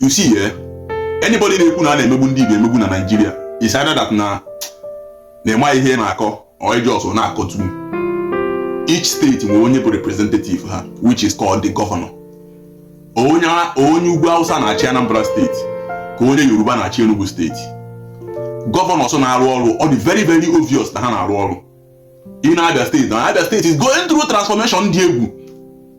you see eh anybody na-ekwu na a na-emegbu ndị Igbo emegbu na Naịjirịa is either that na ịmaghị ihe na-akọ or ị just na-akọtu each state nwere onye bụ representative ha which is called the governor ọ onye ugwu Hausa na-achị Anambra steeti ka onye Yoruba na-achị Enugu steeti governors na-arụ ọrụ ọ dị very very obvious na ha na-arụ ọrụ in Abia State. Now, Abia State is going through transformation dị egwu.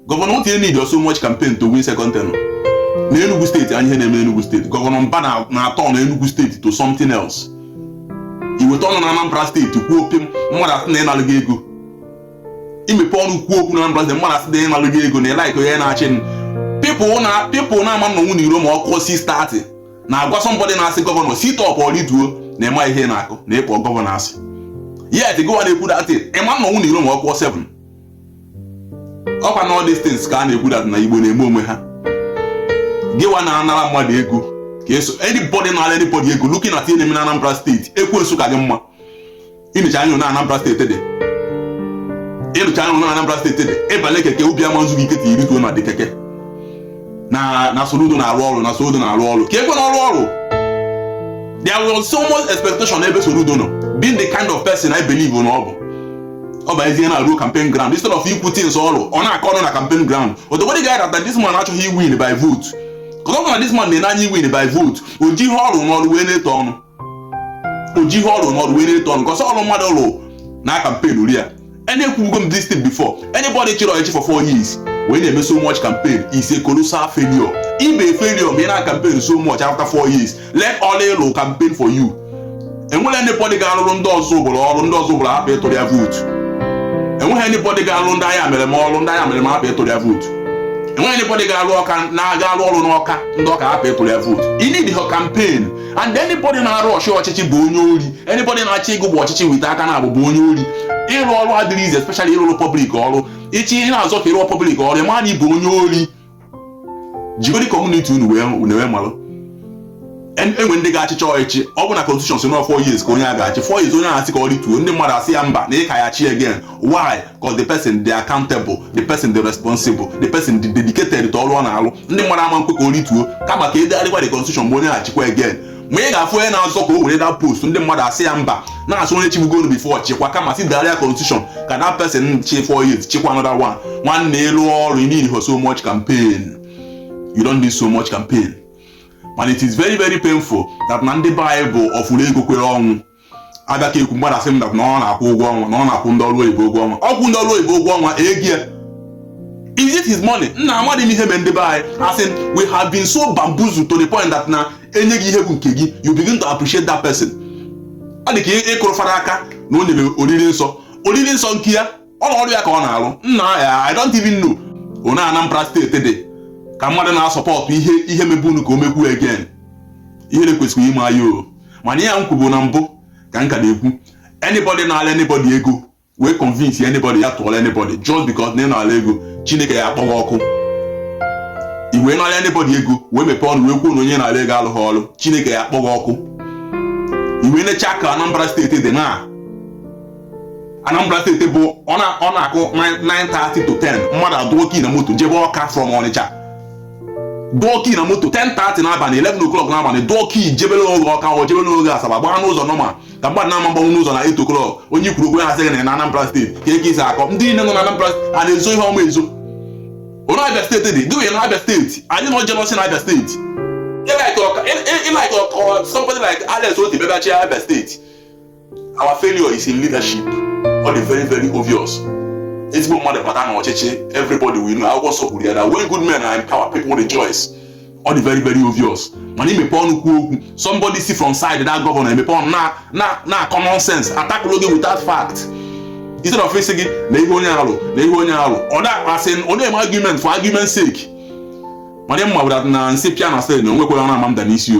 Gọvanọ won't need so much campaign to win second term. Na Enugu State anyị ihe na-eme Enugu State. Gọvanọ Mbah na- na-aturn Enugu State to something else. Iweta ọnụ na Anambra State kwuo okwu mmadụ asị na ịnalụgo ego. Imepe ọnụ kwuo okwu na Anambra State mmadụ asị na ịnalụgo ego na ịlaịka onye na-achị m. People na people na ama nnọnwu n'iro ma ọ kụọ 6:30. na-agwa somebody na-asị gọvanọ sit up or rituo na ịma ihe ị na-akọ na ịkpọ gọvanọ asị yet gịwa na-ekwu that thing ịma nnọnwu n'iro ma ọ kụọ 7 ọkwa na all these things ka a na-ekwu that na Igbo na-eme onwe ha gịwa na-anara mmadụ ego ka eso anybody na-anara anybody ego looking at ihe na-eme na Anambra steeti ekwensu ka gị mma ịnụcha anya na Anambra steeti dị ịnụcha anya na Anambra steeti dị ịbanye keke obi ama nzu gị ike till i rituo na the keke na na Soludo na-arụ ọrụ na Soludo na-arụ ọrụ ka ekwe na ọ rụ ọrụ there was so much expectation n'ebe Soludo nọ being the kind of person I believe na ọ bụ ọ bụ ezie na-arụ campaign ground instead of ikwu things ọ rụ ọ na-akọ ọnụ na campaign ground odogwere ga that this man achọghị iwin by vote because ọ bụ na this man na-enye anyị win by vote o ji ihe ọ rụ n'ọrụ wee na-etu ọnụ o ji ihe ọ rụ n'ọrụ wee na-etu ọnụ cause ọrụ mmadụ rụ na-akampenụrụ ya and ekwubugo m this thing before anybody chịrị ọchịchị for four years wee na-eme so much campaign is a colossal failure ịbụ failure ma ị na campaign so much after four years let ọlụ ị lụ campaign for you enweghị anybody ga-arụrụ ndị Ọzụbụlụ ọrụ ndị Ọzụbụlụ hapụ ịtụrụ ya vootu enweghị anybody ga-arụ ndị Ayamelum ọrụ ndị Ayamelum hapụ ịtụrụ ya vootu enweghị anybody ga-arụ Ọka na ga-arụ ọrụ n'Ọka ndị Ọka hapụ ịtụrụ ya vootu ị needghị campaign and anybody na-arush ọchịchị bụ onye ori anybody na-achọ ịgrab ọchịchị with aka naabọ bụ onye ori ịrụ ọrụ adịrọ easy especially ịrụrụ public ọrụ ịchị ị na-azọ ka ịrụọ public ọrụ ịma na ịbụ onye ori jigodi community unu wee unu wee malụ En- enwe ndị ga-achịcha ọchịchị ọ bụ na constitution sị na ọ 4 years ka onye a ga-achị 4 years onye a asị ka ọ rituo ndị mmadụ asị ya mba na ị ka ya-achị again why cause the person dị accountable the person dị responsible the person dị dedicated to ọrụ ọ na-alụ ndị mmadụ ama nkwe ka o rituo kama ka edegharịkwa the constitution mgbe onye na-achịkwa again ma ị ga-afụ onye na-azọ ka o were that post ndị mmadụ asị ya mba na-asị onye chibugonu before chịkwa kama si degharịa constitution ka that person chi 4 years chịkwa another one nwanne ịlụ ọrụ you need so much campaign you don't need so much campaign mana it is very very painful that na ndị Igbo bụ ọfụrụ ego kwere ọnwụ abịa ka ekwu mmadụ asị m na ọ na-akwụ ụgwọ ọnwa na ọ na-akwụ ndị ọrụ oyibo ụgwọ ọnwa ọ kwụ ndị ọrụ oyibo ụgwọ ọnwa ego ya is it his money nna amaghị m ihe mere ndị be anyị as in we have been so bamboozled to the point that na enye gị ihe bụ nke gị you begin to appreciate that person ọ dị ka ịkụrụ fara aka na o nyere oriri nsọ oriri nsọ nke ya ọ na ọrụ ya ka ọ na-arụ nna ya i don't even know onye anambra steeti dị ka mmadụ na-asọpọtụ ihe ihe mebunu ka o mekwu again ihere kwesịrị ime anyị o mana ihe a m kwubu na mbụ ka m ka na-ekwu anybody nara anybody ego wee convince anybody ya tụọla anybody just because na ị nara ego chineke ya akpọ gị ọkụ i wee nara anybody ego wee mepee ọnụ wee kwuo na onye nara ego alụghị ọrụ chineke ya akpọ gị ọkụ i wee necha ka anambra steeti dị na anambra steeti bụ ọ na- ọ na-akụ 9:30 to 10 mmadụ adụọ key na moto jebe ọka from ọnịcha dụọ key na moto 10:30 n'abalị 11 o'clock n'abalị dụọ key jebere onwe gị ọka or jebere onwe gị asaba gbaa n'ụzọ nọma ka mmadụ na-ama agbanwu n'ụzọ na 8 o'clock onye kwuru okwu na-asị gị na Anambra steeti ka eke isi akọ ndị niile nọ na Anambra steeti a na-ezo ihe ọma ezo onye Abia steeti dị gị na Abia steeti anyị nọ jealousy na Abia steeti like somebody like Alex Otti bịabachi Abia steeti our failure is in leadership ọ dị very very obvious ezigbo mmadụ bata na ọchịchị everybody will know akwụkwọ nsọ kwuru ya na when good men are in power people rejoice ọ dị very very obvious mana i mepe ọnụ kwuo okwu somebody si from side that governor emepe ọnụ na na na common sense atakụlụ gị without fact instead of ịsị gị na ihe onye a lụ na ihe onye a lụ ọ na-akpasị ọ na-eme argument for argument sake mana m ma wụ that na nsị pịa na ceiling na o nwekweghị onye ama ada n'isi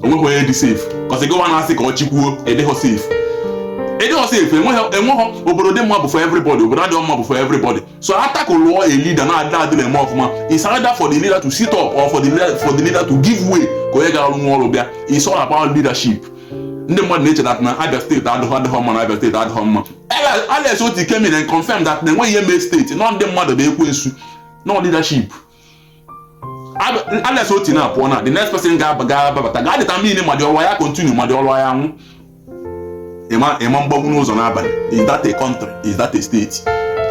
o nwekwe onye dị safe cause gịwa na-asị ka ọ chịkwuo adịghọ safe adịghọ safe enweghị enweghị obodo dị mma bụ for everybody obodo adịghị mma bụ for everybody so atakụ lụọ a leader na-adị adịghị eme ọfụma it's either for the leader to sit up or for the leader, for the leader to give way ka onye ga-arụ nwa ọrụ bịa it's all about leadership ndị mmadụ na-eche that na abia steeti adịghọ adịghọ mma na abia steeti adịghọ mma Alex- Alex Otti came and confirm that na enweghị ihe mee steeti na ọ ndị mmadụ bụ ekwensu nọ leadership unless Otti na-apụ ọ na the next person ga-ababata ga-determine ma the ọrụ ya continue ma the ọrụ ya nwụ ị ma agbanwu n'ụzọ n'abalị is that a country is that a state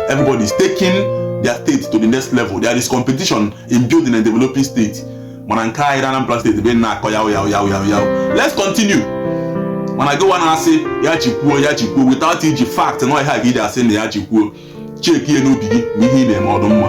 everybody is taking their state to the next level there is competition in building and developing state mana nke anyị na Anambra steeti bụ na-akọ yaụ yaụ yaụ yaụ yaụ let's continue mana gịwa na-asị ya chịkwuo ya chịkwuo without iji fact na ọ ihe a ka i ji asị na ya chịkwuo check ihe n'obi gị ma ihe ị na-eme ọ dụ mma